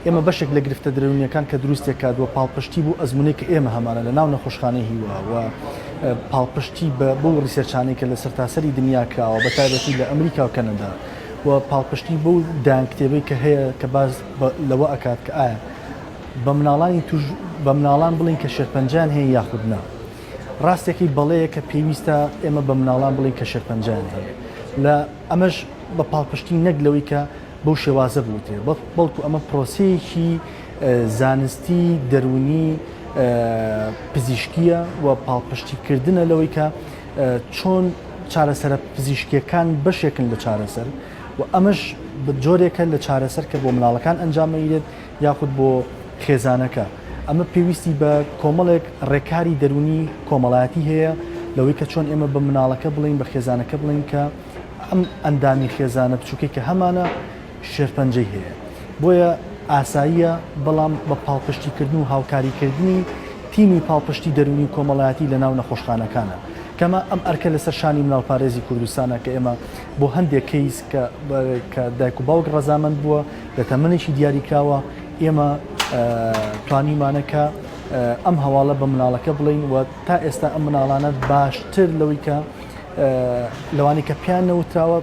ئێمە بەشێک لە گرفتە درەونیەکان کە دروستی دەکات و پاڵپشتی بۆ ئەزمونێک کە ئێمە هەمانە لە ناو نەخۆشخانەی هیوا و پاڵپشتی بە بۆ ڕیسێرچانەی کە لە سەرتاسەری دنیا کراوە بە تایبەتی لە ئەمریکا و کەنەدا و پاڵپشتی بۆ دایان کتێبەی کە هەیە کە باز لەوە ئەکات کە ئایا بە مناڵانی توش بە مناڵان بڵین کە شێرپەنجان هەیە یاخود نا ڕاستێکی بەڵەیە کە پێویستە ئێمە بە مناڵان بڵین کە شێرپەنجان هەیە لە ئەمەش بە پاڵپشتی نەک لەوەی کە بەو شێوازە بوترێ بەڵکو ئەمە پرۆسەیەکی زانستی دەروونی پزیشکیە و پاڵپشتی کردنە لەوەی کە چۆن چارەسەرە پزیشکیەکان بەشێکن لە چارەسەر و ئەمەش جۆرێکە لە چارەسەر کە بۆ مناڵەکان ئەنجامەیرێت یاخود بۆ خێزانەکە، ئەمە پێویستی بە کۆمەڵێک ڕێکاری دەروونی کۆمەڵایەتی هەیە لەوەی کە چۆن ئێمە بە مناڵەکە بڵێین بە خێزانەکە بڵێین کە ئەم ئەندامی خێزانە بچووکەی کە هەمانە شێرپەنجەی هەیە بۆیە ئاساییە بەڵام بە پاڵپشتیکردن و هاوکاریکردنی تیمی پاڵپشتی دەروونی و کۆمەڵایەتی لە ناو نەخۆشخانەکانە کەمە ئەم ئەرکە لەسەر شانی مناڵپارێزی کوردستانە کە ئێمە بۆ هەندێک کەیس کە دایک و باوک ڕەزامەند بووە لە تەمەنێکی دیاریکراوە ئێمە توانیمانە کە ئەم هەواڵە بە مناڵەکە بڵین و تا ئێستا ئەم مناڵانە باشتر لەوەی کە لەوانی کە پیان نەوتراوە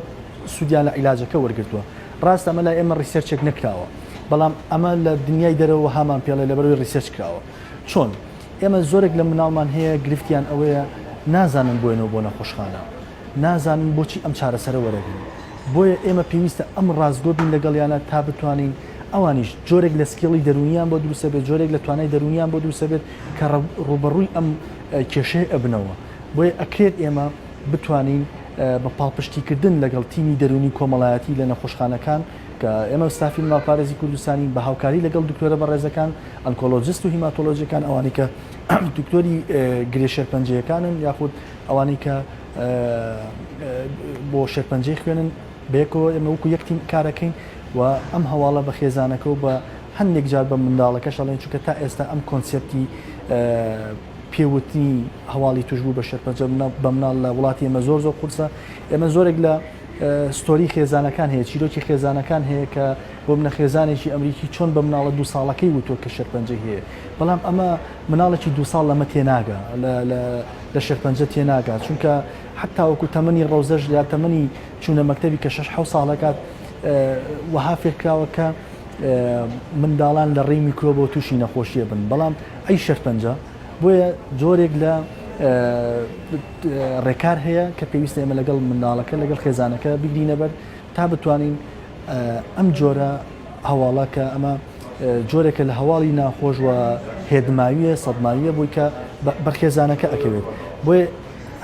سوودیان لە عیلاجەکە وەرگتووە ڕاستە ئەمە لای ئێمە ڕیسەرچێک نکراوە بەڵام ئەمە لە دنیای دەرەوە هامان پێڵێ لەبەروی ڕیسەرچ کراوە چۆن ئێمە زۆرێک لە مناڵمان هەیە گرفتیان ئەوەیە نازانن بۆێنەوە بۆ نەخۆشخانە نازانن بۆچی ئەم چارەسەرە وەرەگرن، بۆیە ئێمە پێویستە ئەم ڕاستگۆ بین لەگەڵیانا تا بتوانین ئەوانیش جۆرێک لە سکیڵی دەروونیان بۆ دروست ئەبێت، جۆرێک لە توانای دەروونیان بۆ دروست ئەبێت کە ڕووبەڕووی ئەم کێشەیە ئەبنەوە، بۆیە ئەکرێت ئێمە بتوانین بە پاڵپشتیکردن لەگەڵ تیمی دەروونی و کۆمەڵایەتی لە نەخۆشخانەکان کە ئێمە ستافی مناڵپارێزی کوردستانین بە هاوکاری لەگەڵ دکتۆرە بەڕێزەکان ئەنکۆلۆجست و هیماتۆلۆجەکان ئەوانەی کە دکتۆری گرێ شێرپەنجەیەکانن یاخود ئەوانەی کە بۆ شێرپەنجەی خوێنن بەیەکەوە ئێمە وەکو یەک تیم کارەکەین و ئەم هەواڵە بە خێزانەکە و بە هەندێک جار بە منداڵەکەش ئەڵێن چونکە تا ئێستا ئەم کۆنسپتی پێوتنی هەواڵی توشبوو بە شێرپەنجە بە مناڵ لە وڵاتی ئێمە زۆر زۆر قورسە ئێمە زۆرێک لە ستۆری خێزانەکان هەیە چیرۆکی خێزانەکان هەیە کە بۆ منە خێزانێکی ئەمریکی چۆن بە مناڵە دو ساڵەکەی وتوە کە شەرپەنجەی هەیە بەڵام ئەمە مناڵێکی دوو ساڵ لەمە تێناگا لە شێرپەنجە تێناگا چونکە حەت تاوەکو تەمەنی ڕەوزەش یا تەمەنی چوونە مەکتەبی کە شش حەو ساڵەکات وەها فێرکراوە کە منداڵان لە ڕێی میکرۆبەوە تووشی نەخۆشیە بن بەڵام ئەی شەرپەنجە بۆیە جۆرێک لە ڕێکار هەیە کە پێویستە ئێمە لەگەڵ منداڵەکە لەگەڵ خێزانەکە بگرینەبەر تا بتوانین ئەم جۆرە هەواڵە کە ئەمە جۆرێکە لە هەواڵی ناخۆش و هێدماویە سەدماویە بۆی کە بەر خێزانەکە ئەکەوێت بۆیە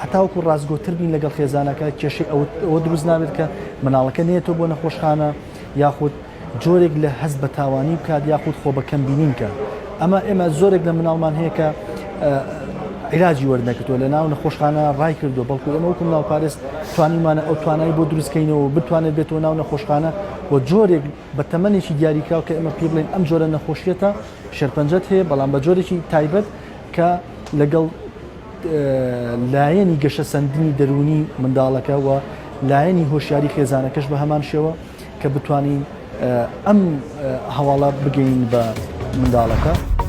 هەتاوکو ڕاستگۆتر بین لەگەڵ خێزانەکە کێشەی ئەوە دروست نابێت کە مناڵەکە نێتەوە بۆ نەخۆشخانە یاخود جۆرێک لە هەست بە تاوانی بکات یاخود خۆ بەکەم بینین کە ئەمە ئێمە زۆرێک لە مناڵمان هەیە کە عیلاجی وەرنەکردووە لە ناو نەخۆشخانە ڕای کردو بەڵکو ئەمە وکم ناوپارێز توانیمانە ئەو توانای بۆ دروستکەینەوە بتوانێت بێتەوە ناو نەخۆشخانە و جۆرێک بە تەمەنێکی دیاریکراو کە ئێمە پێی بڵێین ئەم جۆرە نەخۆشیەتە شێرپەنجەت هەیە بەڵام بە جۆرێکی تایبەت کە لەگەڵ لایەنی گەشە سندنی دەرونی منداڵەکە و لایەنی هۆشیاری خێزانەکەش بە هەمان شێوە کە بتوانین ئەم هەواڵە بگەین بە منداڵەکە.